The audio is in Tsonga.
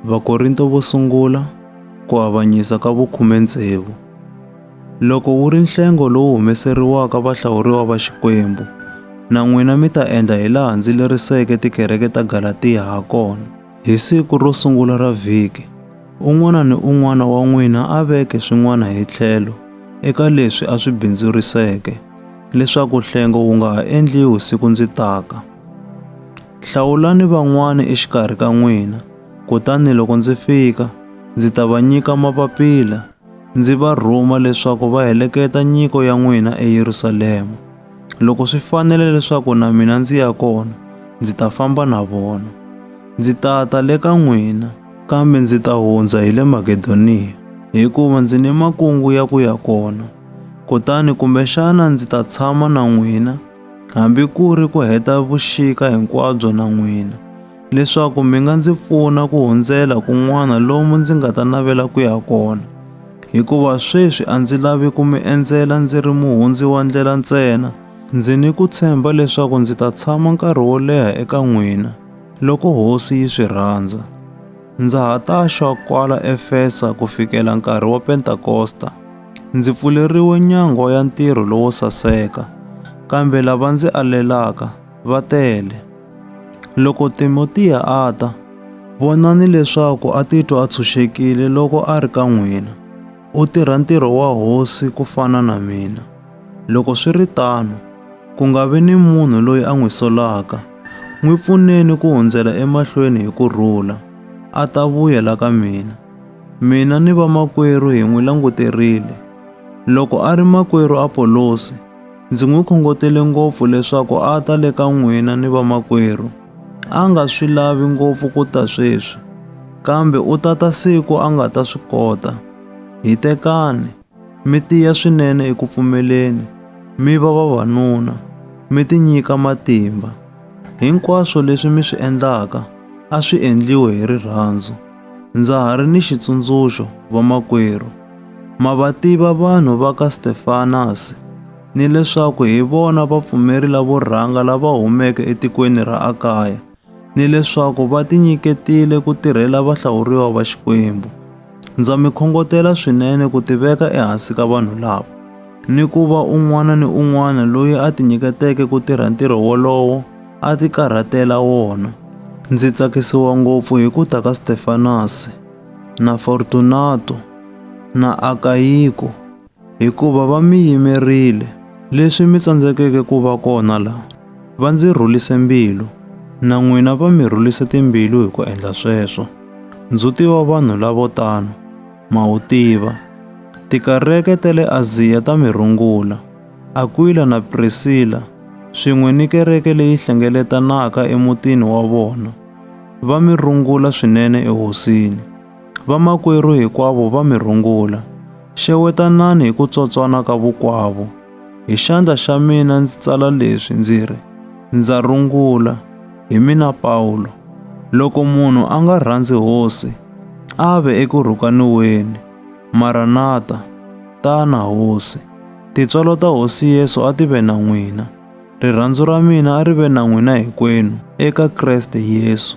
Vakorinto vo sungula ku avanyisa ka vukhume tsevu. Loko wu ri nhlengo lowu humeseriwaka vahlawuriwa va Xikwembu, na n'wina mi ta endla hi laha ndzi leriseke tikereke ta Galatiya ha kona. Hi siku ro sungula ra vhiki, un'wana ni un'wana wa n'wina a veke swin'wana hi tlhelo eka leswi a swi bindzuriseke, leswaku nhlengo wu nga ha endliwi siku ndzi taka. Hlawulani van'wana exikarhi ka n'wina, kutani loko ndzi fika, ndzi ta va nyika mapapila, ndzi va rhuma leswaku va heleketa nyiko ya n'wina eYerusalema. Loko swi fanele leswaku na mina ndzi ya kona, ndzi ta famba na vona. Ndzi ta ta le ka n'wina, kambe ndzi ta hundza hi le Makedoniya, hikuva ndzi ni makungu ya ku ya kona. Kutani kumbexana ndzi ta tshama na n'wina, hambi ku ri ku heta vuxika hinkwabyo na n'wina, leswaku mi nga ndzi pfuna ku hundzela kun'wana lomu ndzi nga ta navela ku ya kona. Hikuva sweswi a ndzi lavi ku mi endzela ndzi ri muhundzi wa ndlela ntsena, ndzi ni ku tshemba leswaku ndzi ta tshama nkarhi wo leha eka n'wina, loko Hosi yi swi rhandza. Ndza ha ta xwa kwala Efesa ku fikela nkarhi wa Pentakosta. Ndzi pfuleriwe nyango ya ntirho lowo saseka, kambe lava ndzi alelaka va tele. Loko Timotiya a ta, vonani leswaku a titwa a tshunxekile loko a ri ka n'wina. U tirha ntirho wa hosi ku fana na mina. Loko swi ri tano, ku nga vi ni munhu loyi a n'wi solaka. N'wi pfuneni ku hundzela emahlweni hi ku rhula, a ta vuya la ka mina. Mina ni vamakwerhu hi n'wi languterile. Loko a ri makwerhu Apolosi, ndzi n'wi khongotele ngopfu leswaku a ta le ka n'wina ni vamakwerhu. a nga swi lavi ngopfu ku ta sweswi, kambe u ta ta siku a nga ta swi kota. Hitekani, mi tiya swinene eku pfumeleni, mi va vavanuna, mi tinyika matimba. Hinkwaswo leswi mi swi endlaka a swi endliwe hi rirhandzu. Ndza ha ri ni xitsundzuxo, vamakwerhu. Ma va tiva vanhu va ka Stefanasi? ni leswaku hi vona vapfumeri lavo rhanga lava humeke etikweni ra Akaya, ni leswaku va tinyiketile ku tirhela vahlawuriwa va Xikwembu. Ndza mi khongotela swinene ku tiveka ehansi ka vanhu lava, ni ku va un'wana ni un'wana loyi a tinyiketeke ku tirha ntirho wolowo a tikarhatela wona. Ndzi tsakisiwa ngopfu hi ku ta ka Stefanasi, na Fortunato, na Akayiko, hikuva va mi yimerile leswi mi tsandzekeke ku va kona la va ndzi rhulise mbilu na n'wina va mi rhulise timbilu hi ku endla sweswo ndzhuti wa vanhu lavo tano ma wu tiva tikareke ta le aziya ta mi rungula akwila na prisila swin'we ni kereke leyi hlengeletanaka emutini wa vona va mi rungula swinene ehosini Vamakwerhu hikwavo va mi rungula. Xewetanani hi ku tsotswana ka vukwavo. Hi xandla xa mina ndzi tsala leswi ndzi ri, Ndza rungula, hi mina Pawulo. Loko munhu a nga rhandzi Hosi, a ve eku rhukaniweni. Maranata, Tana Hosi. Tintswalo ta Hosi Yesu a ti ve na n'wina. Rirhandzu ra mina a ri ve na n'wina hinkwenu eka Kreste Yesu.